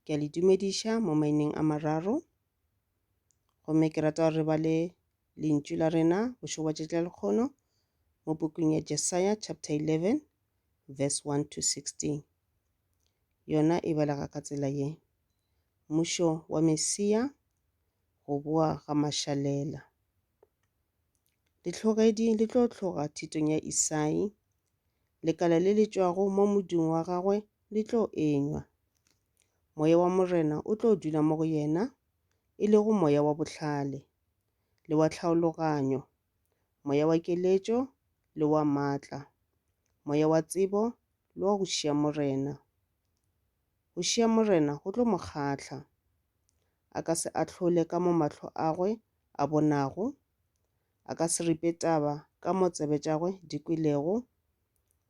ke a le dumediša mo maineng a mararo gomme ke rata gore re ba le lentšu la rena bošo bwa tšatši la lekgono mo pokong ya jesaya chapter 11 verse 1 to 16 yona e balega ka tsela ye Mmušo wa Mesia, go boa ga mašalela. Dihlogedi di tlo tloga thitong ya Isai, lekala le le tšwago mo modung wa gagwe le tlo enywa. Moya wa Morena o tlo dula mo go yena, e lego moya wa bohlale le wa tlhaologanyo, moya wa keletšo le wa matla, moya wa tsebo le wa go šiya Morena. Go šiya Morena go tlo mo kgahla. A ka se ahlole ka mo mahlo agwe a bonago, a ka se ripe taba ka mo tsebe tšagwe di kwelego.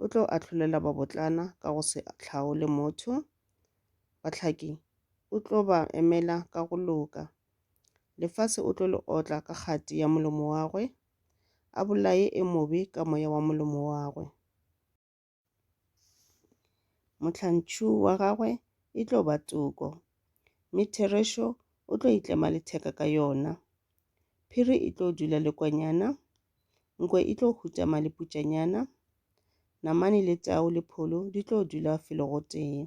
O tlo ahlolela babotlana ka go se hlaole motho, bahlaki o tlo ba emela ka go loka. Lefase o tlo le otla ka kgati ya molomo wagwe, a bolaye e mobe ka moya wa molomo wagwe. Mohlantšhu wa gagwe e tlo ba toko, mme Therešo o tlo itlema letheka ka yona. Phiri e tlo dula lekwanyana, nkwe e tlo hutama leputšanyana, namane le tau le pholo di tlo dula felo gotee.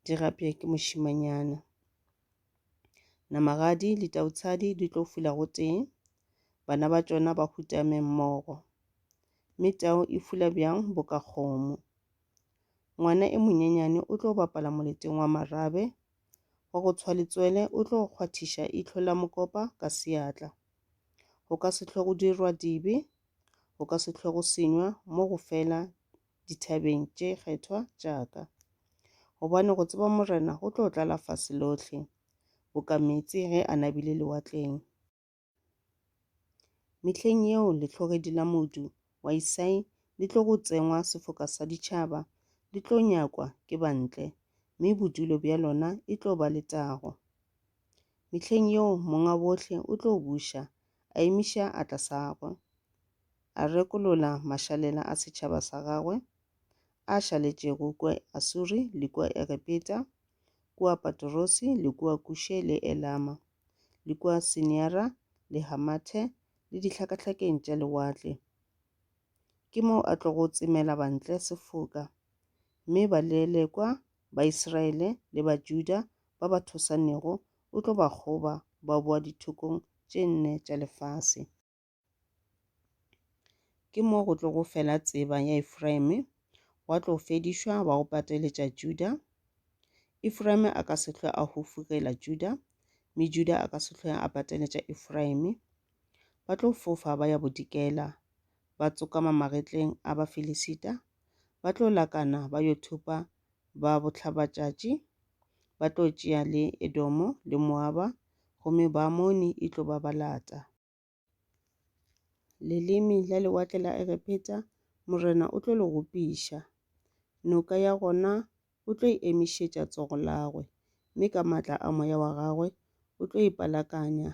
di gapja ke mošimanyana. Namagadi le tautshadi di tlo fula gotee, bana ba tšona ba hutame mmogo. Mme tau e fula bjang bo ka kgomo. Ngwana e monyenyane o tlo bapala moleteng wa marabe, wa go tshwa letswele o tlo kgwathiša itlho la mokopa ka seatla. Go ka se tlhogo dirwa dibe, go ka se tlhogo senywa mo go fela dithabeng tše kgethwa tša ka. Gobane go tseba Morena go tlo tlala fase lohle, boka meetse ge a nabile lewatleng. Mehleng yeo lehlogedi la modu wa Isai le tlogo tsengwa sefoka sa ditšhaba, le tlo nyakwa ke bantle, mme bodulo bja lona e tlo ba letago. Mehleng yeo Monga Bohle o tlo buša, a emiša atla sa gwe. a rekolola mašalela a setšhaba sa gagwe a šaletšego kua Asuri le kua Egepeta, kua Patorose le kua Kushe le Elama, le kua Siniara le Hamathe le dihlakahlakeng tša lewatle. Ke moo a tlogo tsemela bantle sefoka, mme balelekwa ba Isiraele le ba Juda ba ba thosanego o tlo ba kgoba ba boa dithokong tše nne tša lefase. Ke mo go tlo go fela tseba ya Efraime, wa tlo fedišwa, wa go pateletša Juda. Efraime a ka se hlwe a hufugela Juda, mme Juda a ka se hlwe a pateletša Efraime. Ba tlo fofa ba ya bodikela, ba tsokama magetleng a Bafilisita, ba tlo lakana ba yo thupa ba bohlabatšatši, ba tlo tšea le Edomo le Moaba, gomme Baamoni e tlo ba ba lata. Leleme la lewatle la Egepeta, Morena o tlo le gopiša. Noka ya gona o tlo e emišetša tsogo lagwe, mme ka matla a moya wa gagwe o tlo e palakanya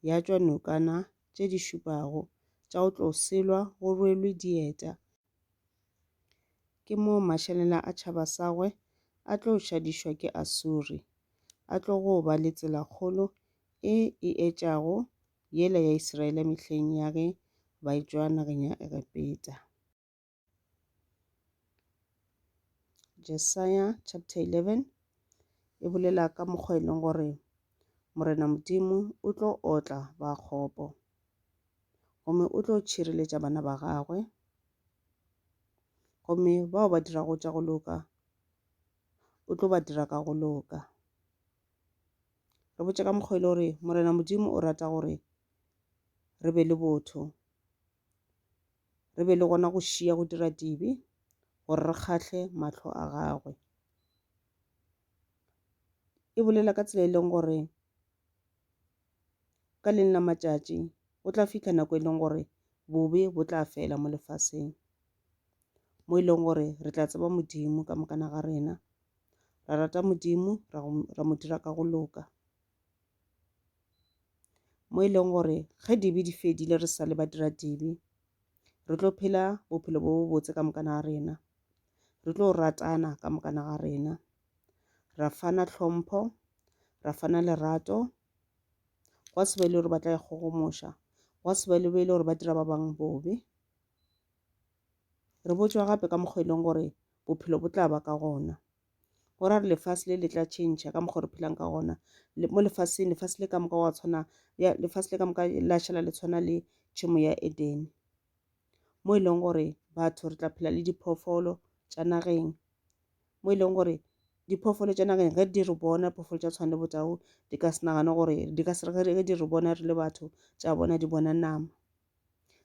ya tšwa nokana tše di šupago tša go tlo selwa go rwelwe dieta. Ke moo mašalela a tšhaba sagwe a tlo šadišwa ke Asuri. A tlo go ba le tsela kgolo e e etšago yela ya Israele mehleng ya ge ba etšwa nageng ya Egepeta. Jesaya chapter 11 e bolela ka mokgwa e leng gore Morena Modimo o tlo otla ba kgopo. gomme o tlo tšhireletša bana ba gagwe, gomme bao ba dirago tša go loka o tlo ba dira ka go loka. Re botše ka mokgwa e le gore Morena Modimo o rata gore re be le botho, re be le gona go šiya go dira dibe gore re kgahle mahlo a gagwe. E bolela ka tsela e leng gore. Ka leng la matšatši, go tla fihla nako e leng gore bobe bo tla fela mo lefaseng, mo e leng gore re tla tseba Modimo ka mokana ga rena, ra rata Modimo, ra go, ra mo dira ka go loka. Mo e leng gore ge dibe di fedile re sa le badiradibe, re tlo phela bophelo bo bobotse ka mokana ga rena, re tlo ratana ka mokana ga rena. ra fana tlhompho, ra fana lerato, gwa se be le gore ba tla ikgogomoša, gwa se be le be e le gore ba dira ba bangwe bobe. Re botšwa gape ka mokgwa e leng gore bophelo bo tla ba ka gona, go ra re lefase le le tla tšhentšha ka mokgwa o re phelang ka gona. Mo lefaseng, lefase le ka moka wa tshwana, ya lefase le ka moka la šala le tshwana le tšhemo ya Edene, mo e leng gore batho re tla phela le diphoofolo tša nageng, mo e leng gore diphoofolo tša nageng ge di re bona phoofolo tša tshwana le botau di ka se nagane gore di ka sere ge di re bona re le batho tša bona di bona nama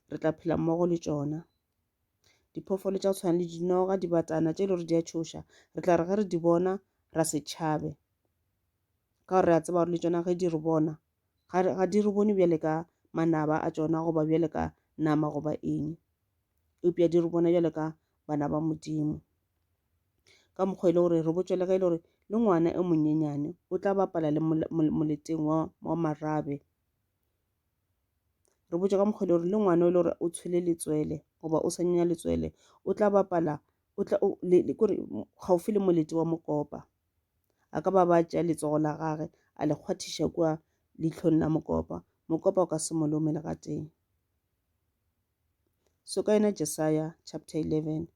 re tla phela mmogo le tšona diphoofolo tša tshwana le dinoga dibatana tše e le gore di a tšhoša re tla re ge re di bona ra se tšhabe ka gore re a tseba gore le tšona ge di re bona ga di re bone bjale ka manaba a tšona goba bjale ka nama goba eng eupša di re bona bjale ka bana ba modimo ka mokgwa e le gore re botšwa le ge e le gore le ngwana e monyenyane o tla bapala le moleteng wa, wa marabe re botšwa ka mokgwa e le gore le ngwana e le gore o tshwele letswele goba o sa nyenya letswele o tla bapala o tla kore gaufi le molete wa mokopa a ka ba ba tšea letsogo la gage a le kgwathiša kua leitlhong la mokopa mokopa o ka se molome le ga teng so ka yona jesaya chapter eleven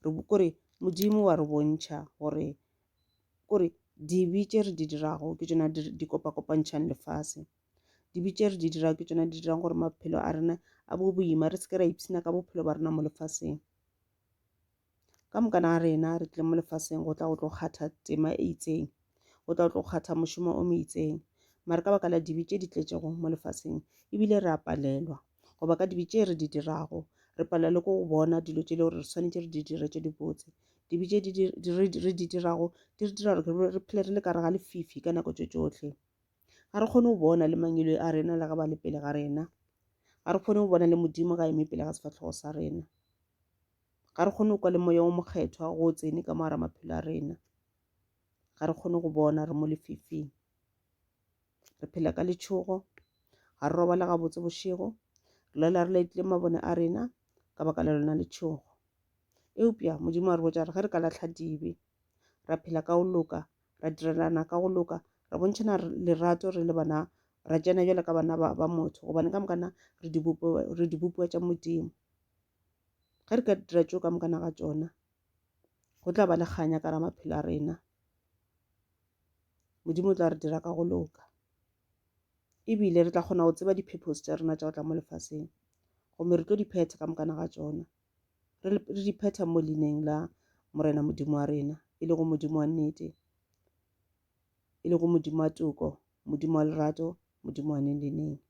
re kore modimo wa re bontšha gore kore dibe tše re di dirago ke tšona di kopakopantšhang lefase dibe tše re di dirago ke tšona di dirang gore maphelo a rena a bo boima re seke ra ipshina ka bophelo ba rena mo lefaseng ka mokana ga rena re tlile mo lefaseng go tla go tlo kgatha tema e itseng go tla go tlo kgatha mošomo o mo itseng mare ka baka la dibe tše di tletšego mo lefaseng ebile re a palelwa goba ka dibe tše re di dirago re palelwa le ko go bona dilo tše le gore re swanetše re di dire tše dibotse dibe tše re di dirago di re dira gore re phele re le kare ga lefifi ka nako tše tšohle ga re kgone go bona le mangelo a rena le ga ba le pele ga rena ga re kgone go bona le modimo ga eme pele ga sefatlhogo sa rena ga re kgone go kwa le moya o mokgethwa go tsene ka moara maphelo a rena ga re kgone go bona re mo lefifing re phela ka letšhogo ga re robala gabotse bošego re lela re laetile mabone a rena ka baka la lona letšhogo eupša modimo a re botša re ge re ka latlha dibe ra phela ka go loka ra direlana ka go loka ra bontšhana lerato re le bana ra tsena jale ka bana ba motho gobane ka mokana re dibopiwa tša modimo ge re ka dira tšeo ka mokana ga tsona go tla ba le kganya ka ra maphelo a rena modimo o tla re dira ka go loka ebile re tla kgona go tseba di-purpose tša rena tša go tla mo lefaseng gomme re tlo di phetha ka mokana ga tsona re di phetha mo leineng la morena modimo wa rena e le go modimo wa nnete e le go modimo wa toko modimo wa lerato modimo wa neng le neng